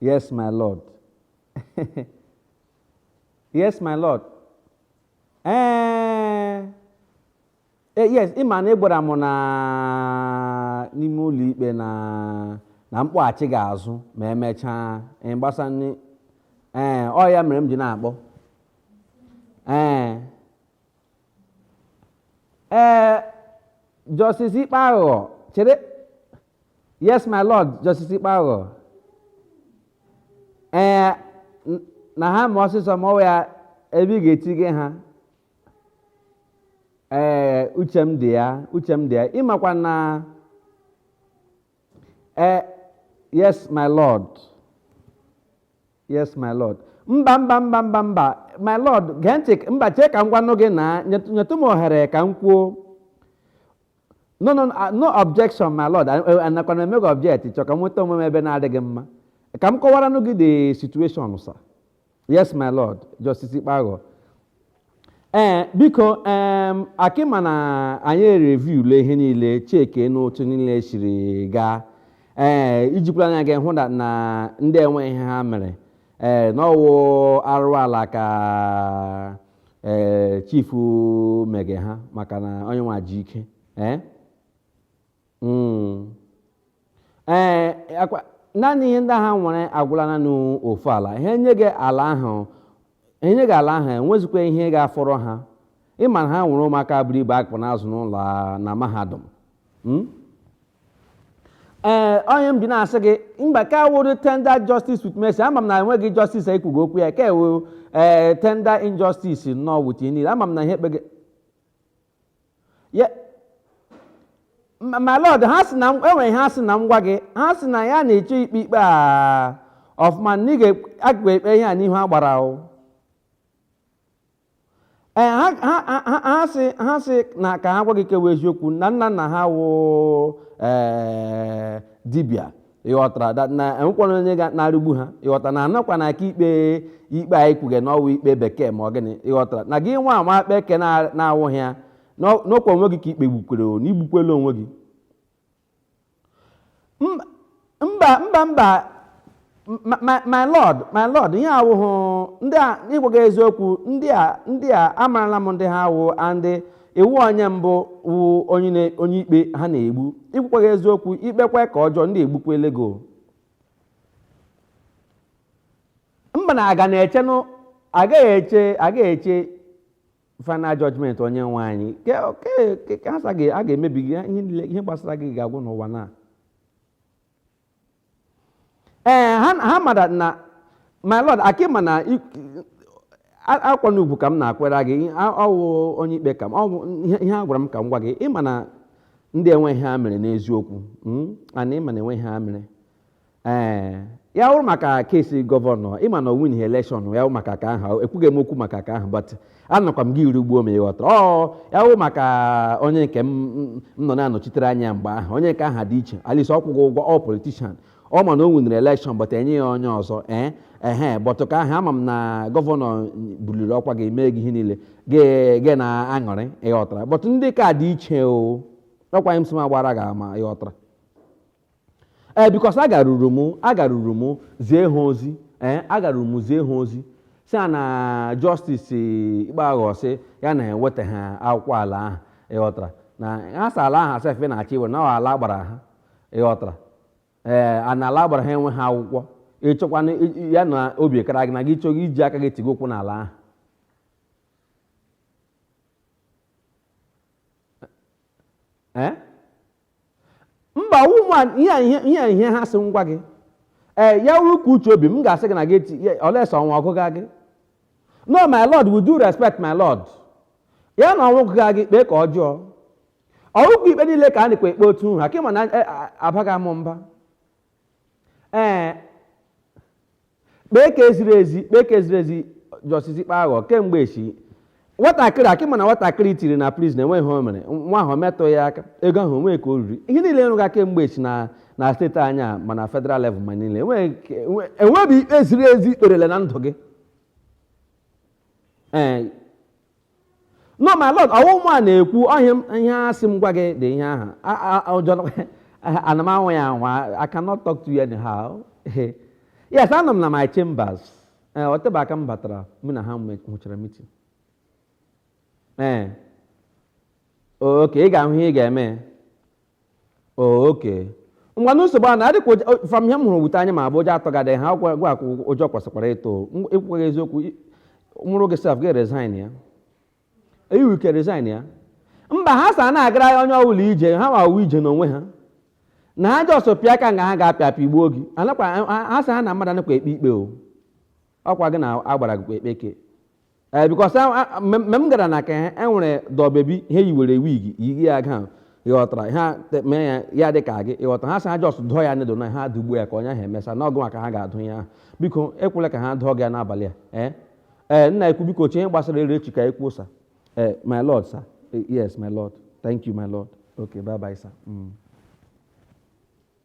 Yes, my Lord. yes, my Lord. Ee, eh, eh, yes, ị ma na ị gwara m na n'ime ụlọ ikpe na na m kpọghachi gị azụ ma emechaa gbasanị ee eh, ọ ya mere m ji na-akpọ ee ee Justice Ikpe Aghụghọ chere yes my lord Justice Ikpe Aghụghọ ee n- na ha ma ọsịsọ ma ọ wụ ya ebe ị ga-etige ha ee uche m dị ya uche m dị ya ị makwa na ee yes my lord Yes, my lord. Mba mba mba mba mba my lord gee ntị k- mba chee ka m gwanụ gị na nyet- nyetụ m ohere ka m kwuo. No no no, ah, no objection my lord A- a- anakwana eme gị object chọọ ka m nweta onwe m ebe na-adịghị mma. Ka m kọwaranụ gị the situation sir. Yes my lord Justice Ikpe Aghụghọ. ee biko em akị ma na anyị reviewle ihe niile cheke n'otu niile siri gaa ee i jikwara anya gị hụ na na ndị a enwe ihe ha mere ee na ọ wụ arụ ala ka ee chifu mege ha maka na onye nwa ji ike ee Mm. ee akwa naanị ihe ndị ha nwere agwụla na n'ofu ala ha enye gị ala ahụ enye gị ala ahụ enwezikwa ihe ga-afọrọ ha ị ma na ha nwere ụmụaka buru ibu a ka na-azụ n'ụlọ a- na mahadum Mm? ee ọ ya m ji na-asị gị mba ka ọ wụrụ tender justice with mercy ama m na enweghị justice ekwugo okwu ya ka ewu ee tender injustice nnọọ with you niile ama m na ihe e kpege my lord ha sị na enwere ha sị na m gwa gị ha sị na ya na-eche ikpe ikpe a ọfụma na ị ga-aga ekpe ihe a n'ihu agbara ahụ ee ha sị ha sị na ka ha gwa gị ke wụ eziokwu na nna nna ha wụ ee dibịa ị ghọtara da- na enwekwana onye ga na-erigbu ha ị ghọtara na a nọkwa na-ekpe ikpe anyị kwuge na ọ wụ ikpe bekee ma ọ gịnị ị ghọtara na gị nwa kpee ke na- na-awụghị ya na- n'ọkwa onwe gị ka i kpegbukwere o na i gbukwela onwe gị M- mba mba mba my, my, my lord my lord ihe awụhụ ndị a ịgwa gị eziokwu ndị a ndị a amarala m ndị ha wụ and ị wụ onye mbụ wụ onye na- onye ikpe ha na-egbu ịgwakwa gị eziokwu i kpekwa ke ọjọọ ndị a egbukwala gị o mba na a ga na-echenụ agaghị eche agaghị eche final judgment onye nwe anyị Ke- ke- ke- ka ha sa ga- a ga-emebi gị ihe niile ihe gbasara gị ga-agwụ n'ụwa na ee ha ha mara na my lord akịma na i- a- akwa na ugwu ka m na-akwere gị a- ọ wụ onye ikpe ka m ọ wụ ihe ihe a gwara m ka m gwa gị ịma na ndị enweghị ihe ha mere n'eziokwu mm, and ịma na enweghị ihe ha mere ee ya wụrụ maka kesi gọvanọ ịma na o win election ya wụ maka ka ahụ ekwughị m okwu maka ka ahụ but anọkwa m gị iri ugbo ma ị ghọtara ọ ya wụ maka onye nke m m- m nọ na-anọchitere anya mgbe ahụ onye nke ahụ dị iche at least ọ kwụghị ụgwọ ọ politician ọ ma na o winere election but e nye ya onye ọzọ ee ehe but ka ahụ ama m na gọvanọ buliri ọkwa gị mee gị ihe niile gị- gị na-aṅụrị ị ghọtara but ndị ka dị iche o ọkwa m sị m agbara gị ama ị ghọtara ee because agaruru m agaruru m zie ha ozi ee agaruru m zie ha ozi sị ha na Justice Ikpeaghọ sị ya na eweta ha akwụkwọ ala ahụ ịghọtara na ha sị ala ahụ sef na-achọ iwere na ọ ala agbara ha ịghọtara ee a na ala agbara ha enwe ha akwụkwọ ịchọkwana ya na obi kara gị na gị chọghị iji aka gị tigo ụkwụ n'ala ahụ ee mba ụmụ a- ihe a- ihe ihe a- ihe ha sị m gwa gị ee ya wụrụ ka uche obi m ga-asị gị na gị eti ya- unless ọnwụ gụga gị no my lord with due respect my lord ya na ọnwụ gụga gị kpee ka ọjọọ ọ wụkwa ikpe niile ka a nakwa ekpe otu ahụ ka ịma na eh, ah, abaghị amụ mba ee kpee ka eziri ezi kpee ka eziri ezi Justice Ikpeaghọ kemgbe echi nwatakịrị akị ma na nwatakịrị tiri na prison enweghị ihe o mere nwa ahụ metụ ya aka ego ahụ onwe ka o riri ihe niile nrụga kemgbe echi na na steeti anyị a ma na federal level ma niile enweghị ikpe ziri ezi i kperele na ndụ gị ee no my lord ọwụ mụ a na-ekwu ọ ihe a m- ihe a sị m gwa gị dị ihe ahụ A- a- a- ụjọ nọ- ana m anwa ya anwa i cannot talk to you anyhow yes anọ m na my chambers ee o tebe aka m batara mụ na ha nwe- nwechara meeting ee okay ị ga-ahụ ihe ị ga-eme okay ngwanu nsogbu a na adịkwa ụjọ- from ihe m hụrụ with anya m abụọ ụjọ atụgadị ha gwa gwa ka ụjọ kwesịkwara ịtụ M- ekwughị eziokwu i- m wụrụ gị sef gị resign ya i nwe ike resign ya mba ha sị ana agara ya onye ọbụla ije ha ma ije n'onwe ha na ha just pịa aka nga ha ga-apịa apịa igbuo gị anakwa ha- ha sị ha na mmadụ anakwa ekpe ikpe o ọkwa gị na agbara gị ekpe ke ee because mgbe m gara na ka ha enwere doll baby ha yiwere wig yi ya gown ịghọtara ha te- mee ya ya dị ka gị ịghọta ha sị ha just dụọ ya needle na ha dụgbuo ya ka onye ahụ emesa na ọgụ maka ha ga-adụ ya ahụ biko ekwela ka ha dụọ gị ya n'abalị a ee ee nna ukwu biko chee ihe gbasara ere echi ka ekwu sa ee my lord sir Eh, yes my lord thank you my lord okay bye bye sir mm.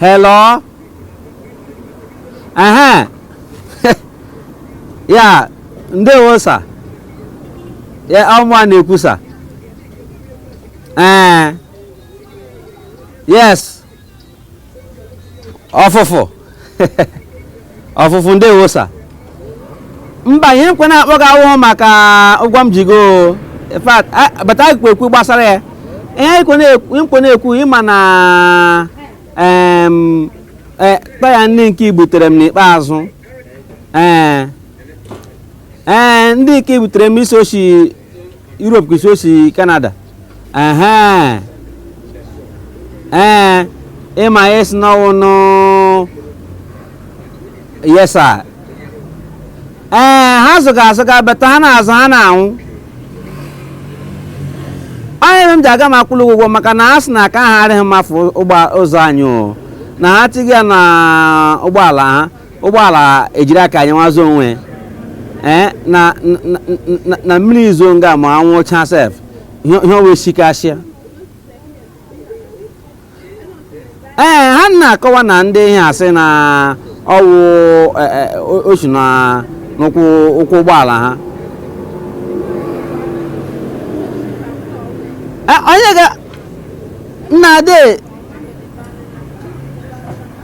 Hello? Ehe. ya, ndewo sa. Ya ọ mụa na-ekwu sa. Ee. Yes. ọfụfụ ọfụfụ ndewo sa mba ihe m kwe na-akpọ gị awụhụ maka ụgwọ m ji gị o in fact a- bata ekwu okwu gbasara ya ihe m kwe na-ekwu m kwe na-ekwu ị ma na em, eh, taya ndị nke i butere m n'ikpeazụ ee ee ndị nke i butere m ị sị o shi Europe ka ị sị o si Canada ehe ee ị ma ị sị n'ọ wụ new yes sir ee ha zụga azụga beta ha na-azụ ha na-anwụ onye ebe m ji aga m akwụlụ gị ụgwọ maka na ha sị na aka ha arịghị mma for ụzọ anyị o na ha tighị ya na ụgbọala ha ụgbọala ejiri aka anyị nwazụ onwe ee na na mmiri zoo nga ma anwụ chaa sef ihe ọwa esikasịa ee ha na-akọwa na ndị ihe a sị na ọ wụ e, e, o shi n'ụkwụ ụkwụ ụgbọala ha e, onye ga nna ade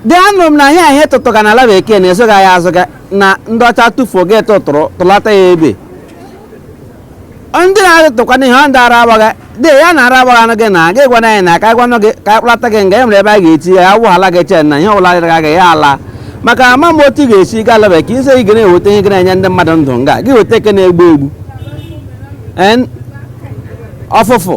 dị anụ m na ihe a ihe tụtụga na ala bekee na ezoga ya azụga na ndị ọcha tụfuo gị atụtụrụ tụlata ya ebe ndị na-atụtụkwanụ ihe ọ ndị ara agbaga dị ya na ara agbaga gị na gị gwana anyị na ka a gwanụ gị ka a kpụlata gị nga e nwere ebe a ga-eti ya awụghala gị chen na ihe ọbụla dịrị gị ya ala maka ama m otu ị ga-esi gaa ala bekee ị sị ị ga na-eweta ihe gị na-enye ndị mmadụ ndụ nga gị eweta ke na-egbu egbu ọfụfụ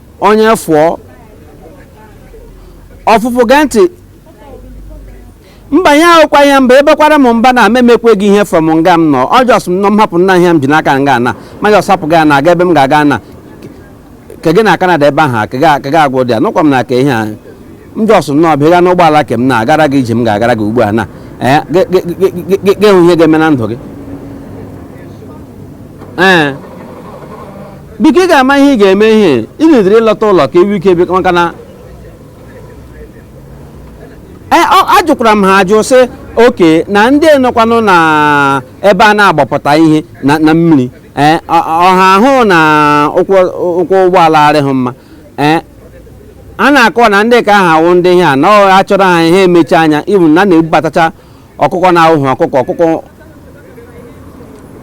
onye fụọ ọfụfụ gee ntị mba ya awụkwa ihe mba ebekwara m mba na m emekwe gị ihe from nga m nọ jọs m nọ m hapụ nna ihe m ji n'aka nga na ma jọs hapụ gị na aga ebe m ga-aga na ke gị na kanada ebe ahụ ka ga- ka ga agwụ dị ya nụkwa m na ka ihe a m jọs nnọọ bịa gaa n'ụgbọala ke m na-agara gị ije m ga-agara gị ugbu a na ee gị- gị- gị- gị- gị- gị hụ ihe ga-eme na ndụ gị ee biko ị ga-ama ihe ị ga-eme ihe ị na-edere ị lọta ụlọ ka ewu ike biko maka na Ee, ọ- ajụkwara m ha ajụ sị okay na ndị nọkwanụ na ebe a na-agbapụta ihe na na mmiri ee ọ- ọ- ha hụ na ụkwụ ụkwụ ụgbọala arịghị mma ee ha na-akọwa na ndị ka ha wụ ndị ihe a na-achọrọ ha ha emechi anya ibu na a na-ebubatacha ọkụkọ na-awụghị ọkụkọ ọkụkọ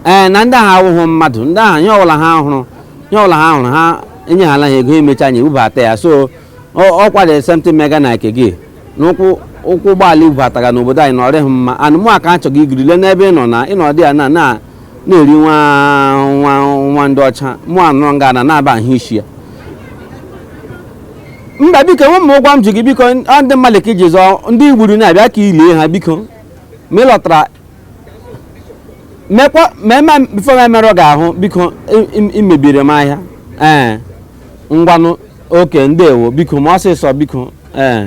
ee eh, na ndị ahụ awụghị mmadụ ndị ahụ ihe ọbụla ha hụrụ ihe ọbụla ha hụrụ ha enyehala ha ego emechi anya ebubata ya so ọkwa dị something mega na nke gị n'ụkwụ ụkwụ ụgbọala ibubataga n'obodo anyị na ọrịghị mma and mụwa ka achọga igiri le n'ebe ị nọ na ịnọdị ya na na na-eri nwa nwa nwa ndị ọcha mụ anọrọ nga na na-aba ahụ isi ya mba biko nwe m ụgwọ m ji gị biko ọ ndị mmadụ ka iji zọọ ndị igburu na-abịa ka ilie ha biko ma ị lọtara mekwa ma eme before m emerụ gị ahụ biko i- i- imebiri m ahịa ee ngwanụ okay ndewo biko ma ọsịsọ biko ee